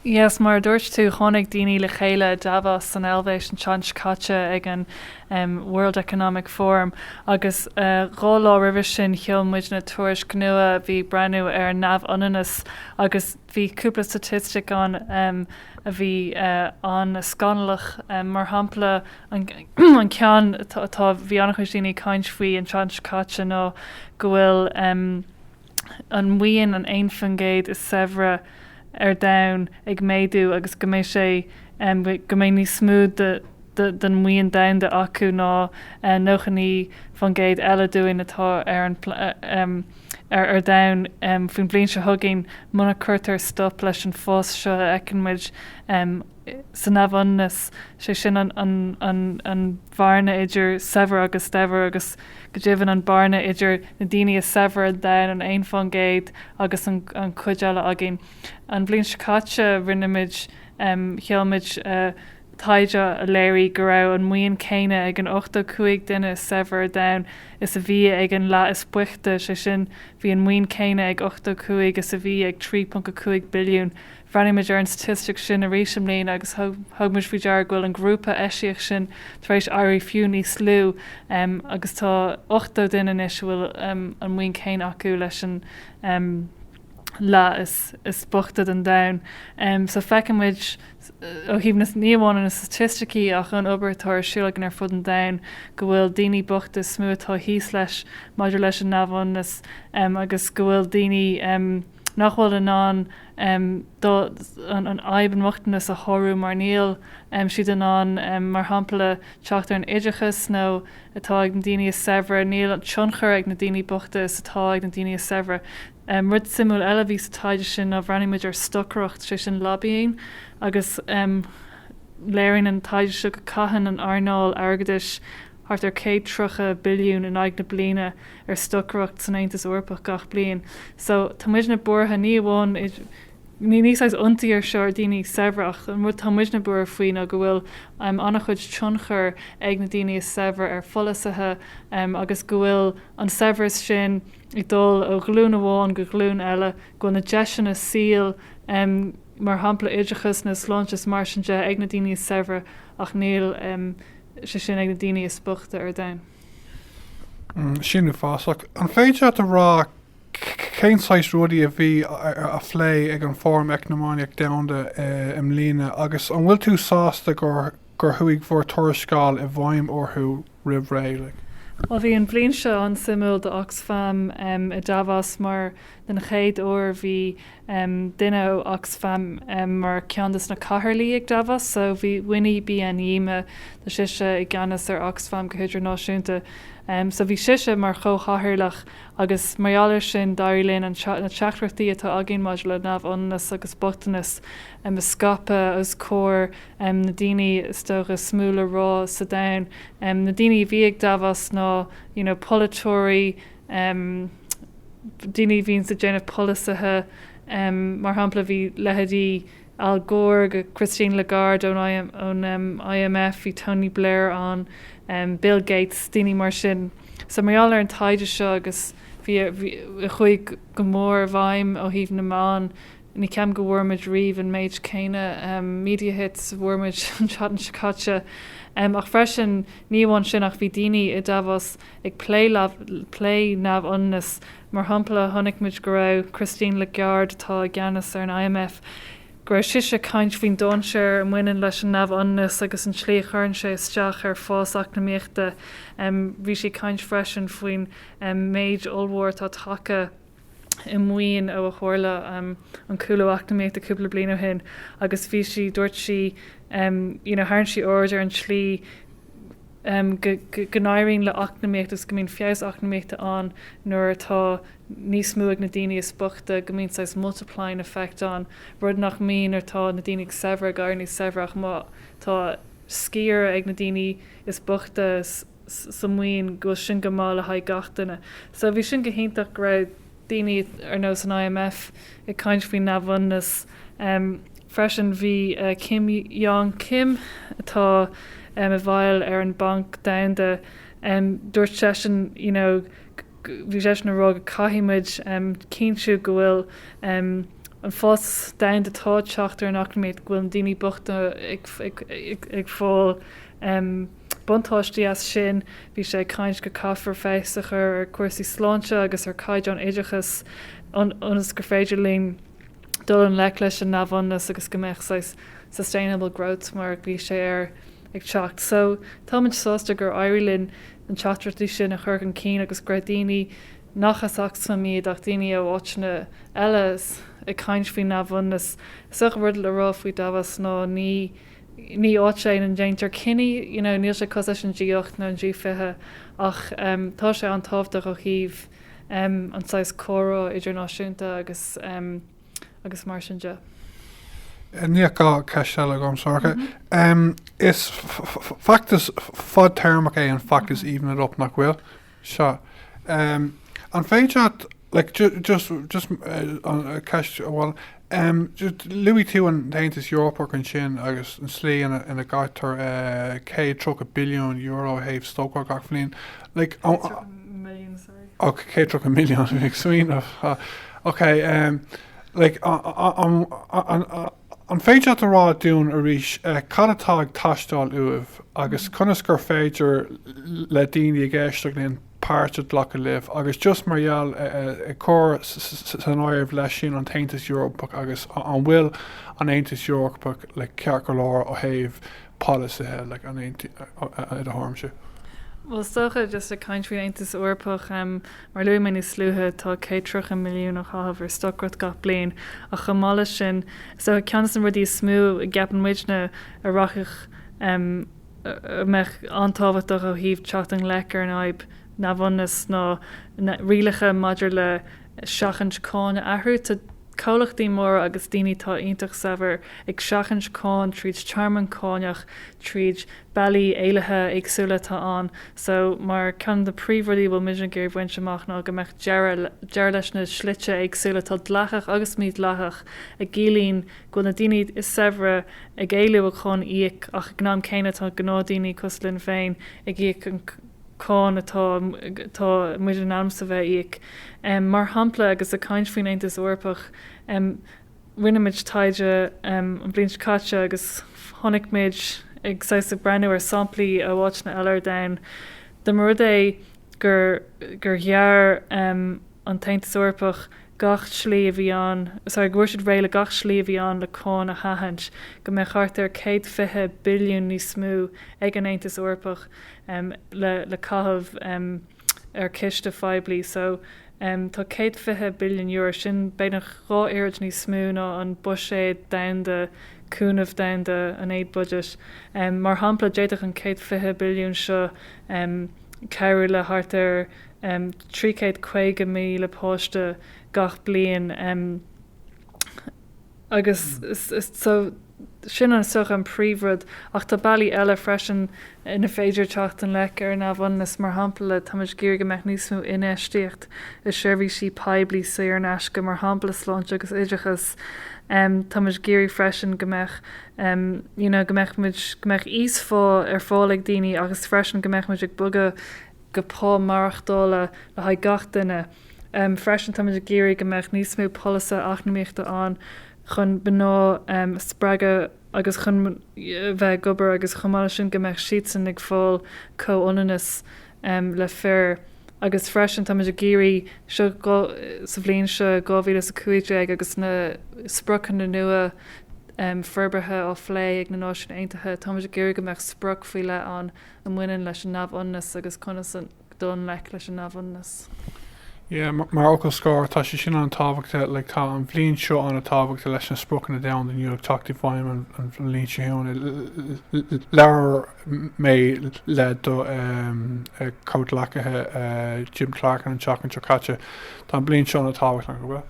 Yes, mar a dúirt tú, tháinig daoine le chéile i Davos san Eilvéis an tseachtain seo caite ag an World Economic Forum agus dhá lá roimhe sin sheol muidne tuairisc nua a bhí ag breathnú ar neamhionannas agus bhí cúpla staitistic ann a bhí an-scannalach, mar shampla an ceann a tá, bhí an-chuid daoine ag caint faoi an tseachtain seo caite ná go bhfuil. an mhaoin an aon faoin gcéad is saibhre ar domhan ag méadú agus go mbeidh sé go mbeidh níos mó den mhaoin domhanda acu ná 99 faoin gcéad eile dúinn atá ar an ar domhan faoin bhliain seo chugainn muna cuirtear stop leis an bhfás seo a fheiceann muid sa neamhionannas, sé sin an bhearna idir saibhir agus daibhir agus go deimhin an bearna idir na daoine is saibhre ar domhan, an aon fán gcéad, agus an cuid eile againn. An bhliain seo caite rinneamid, sheolmid taighde a léirigh go raibh an maoin céanna ag an ochtó cúig duine is saibhre ar domhain is a bhí ag an leath is boichte, sé sin bhí an maoin céanna ag ochtó cúig is a bhí ag 3.5 billiún. Bhreathnaigh muid ar an staitistic sin arís i mbliana agus thug muid faoi deara go bhfuil an grúpa eisiach sin tar éis éirí fiú níos lú agus tá 80 duine anois a bhfuil an mhaoin chéanna acu leis an leath is boichte den domhan. So feiceann muid ó thaobh na, ní amháin na staitisticí ach ón obair atá ar siúl againn ar fud an domhain go bhfuil daoine bochta is mó atá thíos leis maidir leis an neamhionannas agus go bhfuil daoine nach bhfuil in ann fadhb an bhochtanais a shárú mar níl siad in ann mar shampla teacht ar an oideachas nó atá ag na daoine is saibhre níl an tionchar ag na daoine bochta is atá ag na daoine is saibhre. Rud suimiúil eile a bhí sa taighde seo ná bhreathnaigh muid ar stocaireacht, sé sin lobbying, agus léiríonn an taighde seo go caitheann an earnáil airgeadais thart ar 130 billiún in aghaidh na bliana ar stocaireacht san Aontas Eorpach gach bliain. So tá muidne buartha ní amháin, ní ní saghas ionsaí é seo ar daoine saibhre ach an rud tá muidne buartha faoi ná go bhfuil em an-chuid tionchair ag na daoine is saibhre ar pholasaithe em agus go bhfuil an saibhreas sin ag dul ó ghlúin amháin go glúin eile, go bhfuil na deiseanna saoil em mar shampla oideachas nó sláinte is mar sin de ag na daoine is saibhre ach níl em sé sin ag na daoine is boichte ar domhan. Sin uafásach. An féidir leat a rá cén saghas rudaí a bhí á phlé ag an Fóram Eacnamaíoch Dhomhanda i mbliana agus an bhfuil tú sásta gur chuaigh bhur dtuarascáil i bhfeidhm orthu roimh ré? Bhuel, bhí an bhliain seo an-suimiúil do Oxfam i Davos mar den chéad uair bhí duine ó Oxfam mar cheann de na cathaoirligh ag Davos so bhí Winnie Byanyima tá sise i gceannas ar Oxfam go hidirnáisiúnta so bhí sise mar chomhchathaoirleach agus mar gheall ar sin d'éirigh linn an na teachtaireachtaí atá againn maidir le neamhionannas agus bochtanas a scaipeadh os comhair na daoine is dócha is mó le rá sa domhan na daoine a bhí ag Davos ná you know polaiteoirí um daoine a bhíonns ag déanamh polasaithe um mar shampla bhí leithéidí Al Gore agus Christine Lagarde ón ón um IMF, bhí Tony Blair ann, um Bill Gates, daoine mar sin. So mar gheall ar an taighde seo agus bhí bhí chuaigh go mór i bhfeidhm ó thaobh na meán, ní cheapaim go bhfuair muid riamh an méid céanna um media hits a bhfuair muid an tseachtain seo caite. Um ach freisin ní amháin sin ach bhí daoine i Davos, ag plé neamhionannas. Mar shampla, chonaic muid go raibh Christine Lagarde, atá i gceannas ar an IMF, go raibh sise ag caint faoin dainséar a bhaineann leis an neamhionannas agus an tslí a chuireann sé isteach ar fás eacnamaíochta. Bhí sí ag caint freisin faoin méadú ollmhór atá tagtha. i maoin ó a tharla an cúlú eacnamaíochta cúpla bliain ó shin agus bhí sí, dúirt sí, you know, tharraing sí aird ar an tslí go n-éiríonn le eacnamaíocht agus go mbíonn feabhas eacnamaíochta ann nuair atá níos mó ag na daoine is bochta, go mbíonn saghas multiplying effect ann, rud nach mbíonn nuair atá na daoine saibhre ag éirí níos saibhre ach má tá sciar ag na daoine is bochta, sa mhaoin, go bhfuil sin go maith le haghaidh gach duine. So bhí sin go hiontach go raibh daoine ar nós an IMF ag caint faoin neamhionannas. Freisin bhí Jim Yong Kim atá i bhfeighil ar an Banc Domhanda, dúirt seisean you know bhí seisean a rá go caithfidh muid cinntiú go bhfuil an fás domhanda atá ag teacht ar an eacnamaíocht go bhfuil na daoine bochta ag fáil buntáistí as sin. Bhí sé ag caint go caithfear feabhas a chur ar chúrsaí sláinte agus ar chaighdeán oideachas ionas gur féidir linn dul i ngleic leis an neamhionannas agus go mbeadh saghas sustainable growth mar a ghlaoigh sé air ag teacht. So táimid sásta gur éirigh linn na teachtaireachtaí sin a chur chun cinn agus go raibh daoine nach as Oxfam iad ach daoine ó áiteanna eile ag caint faoin neamhionannas. Is é rud le rá faoi Davos ná ní ní áit é ina ndéantar cinní, you know, níl sé cosúil leis an G8 nó an G20 ach tá sé an-tábhachtach ó thaobh an saghas comhrá idirnáisiúnta agus agus mar sin de. Dhá cheist eile agam Sorcha. Is feachtas fadtéarmach é an feachtas Even It Up nach bhfuil? seo. An féidir leat, like, just just an ceist amháin luaigh tú an tAontas Eorpach ansin agus an tslí ina ina gcaitear céad tríocha billiún euro ó thaobh stocaireacht gach bliain like ó och céad tríocha milliún ag smaoineamh ha ok like an An féidir leat a rá dúinn arís cad atá ag teastáil uaibh agus conas gur féidir le daoine ag éisteacht linn páirt a ghlacadh libh agus just mar gheall ar, ag cur san áireamh leis sin an tAontas Eorpach agus an bhfuil an Aontas Eorpach ceart go leor ó thaobh polasaithe i do thuairimse? Bhuel, is dócha, just ag caint faoin Aontas Eorpach, mar a luaigh mé níos luaithe, tá céad tríocha milliún á chaitheamh ar stocaireacht gach bliain, ach chomh maith leis sin, is dócha ceann de na rudaí is mó a gceapann muidne a rachadh, a mbeadh an-tábhachtach ó thaobh teacht i ngleic ar an fhadhb neamhionannais ná na rialacha maidir le seachaint cáin a athrú. Tá comhlachtaí móra agus daoine atá iontach saibhir ag seachaint cáin tríd tearmann cáineach, tríd bealaí éalaithe éagsúla atá ann. So, mar ceann de na príomhrudaí a bhfuil muid ag iarraidh bhaint amach ná go mbeadh deireadh leis na slite éagsúla atá dleathach agus mídhleathach a gciallaíonn go bhfuil na daoine is saibhre ag éalú ó cháin a íoc ach ag an am céanna tá gnáthdaoine cosúil linn féin ag íoc an cáin atá atá muid in ainm is a bheith ag íoc. Mar shampla, agus ag caint faoin Aontas Eorpach, rinne muid taighde an bhliain seo caite agus chonaic muid ag saghas ag breathnú ar samplaí ó áiteanna eile ar domhan, dá mba rud é gur gur ghearr an tAontas Eorpach gach slí a bhí ann, sorry, go bhfuair siad réidh le gach slí a bhí ann le cáin a sheachaint, go mbeadh thart ar 120 billiún níos mó ag an Aontas Eorpach. um le le caitheamh um ar chiste phoiblí so um tá céad fiche billiún euro, sin beagnach dhá oiread níos mó ná an buiséad domhanda, cúnamh domhanda, an aid budget. um Mar shampla, d'fhéadfadh an céad fiche billiún seo um cabhrú le thart ar um trí chéad caoga míle páiste gach bliain. um agus so sin an, is dócha, an príomhrud ach tá bealaí eile freisin ina féidir teacht i ngleic ar an neamhionannas, mar shampla táimid ag iarraidh go mbeadh níos mó infheistíocht i seirbhísí poiblí saor in aisce, mar shampla sláinte agus oideachas, táimid ag iarraidh freisin go mbeadh you know go mbeadh muid go mbeadh íosphá ar fáil ag daoine agus freisin go mbeadh muid ag bogadh go pá maireachtála le haghaidh gach duine. Freisin, táimid ag iarraidh go mbeadh níos mó polasaithe eacnamaíochta ann chun mná a spreagadh agus chun bheith ag obair agus chomh maith leis sin go mbeadh siadsan ag fáil comhionannas le fir. Agus freisin, táimid ag iarraidh seo sa bhliain seo 2015 agus na spriocanna nua forbartha á bplé ag na Náisiúin Aontaithe, táimid ag iarraidh go mbeadh sprioc faoi leith ann a bhaineann leis an neamhionannas agus conas a. dul i ngleic leis an neamhionannas. Yeah, mar fhocal scoir, tá sé sin an-tábhachta, like, tá an bhliain seo an-tábhachta leis na spriocanna domhanda nua ag teacht i bhfeidhm an bhliain seo chugainn. Labhair mé le do chomhghleacaí Jim Clarken an tseachtain seo caite. Tá an bhliain seo an-tábhachta, nach bhfuil?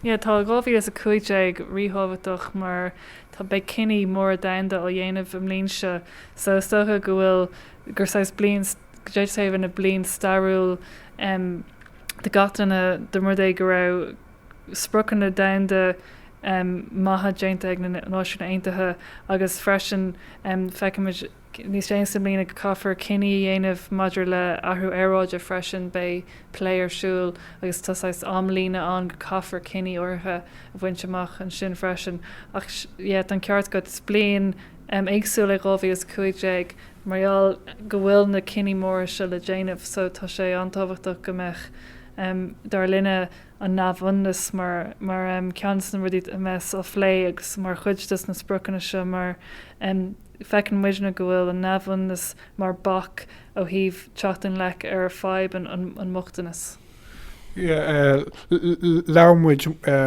Yeah, tá 2015 ríthábhachtach mar tá beidh cinní móra domhanda á ndéanamh i mbliain seo so is dócha go bhfuil gur saghas bliain d'fhéadfadh sé a bheith ina bliain stairiúil do gach duine dá mba rud é go raibh spriocanna domhanda maithe déanta ag na Náisiúin Aontaithe agus freisin feicimid níos déanaí sa mbliain go gcaithfear cinní a dhéanamh maidir le athrú aeráide freisin. Beidh plé ar siúl agus tá saghas amlíne ann go gcaithfear cinní áirithe a bhaint amach ansin freisin ach yeah tá an ceart agat is bliain éagsúil í 2015 mar gheall go bhfuil na cinní móra seo le déanamh so tá sé an-tábhachtach go mbeadh, dar linne, an neamhionannas mar cheann de na rudaí a bheas á phlé agus mar chuid de na spriocanna seo mar feiceann muidne go bhfuil an neamhionannas mar bac ó thaobh teacht i ngleic ar fhadhb an bhochtanais. Labhair muid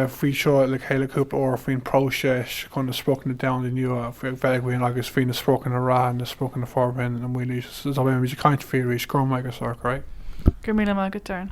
faoi seo le chéile cúpla uair, faoin bpróiseas chun na Spriocanna Domhanda nua a bheith againn agus faoi na spriocanna reatha, na spriocanna forbartha na Mílaoise, so beidh muid ag caint faoi arís. Go raibh maith agat, Sorcha. Go raibh míle maith agat, Doireann.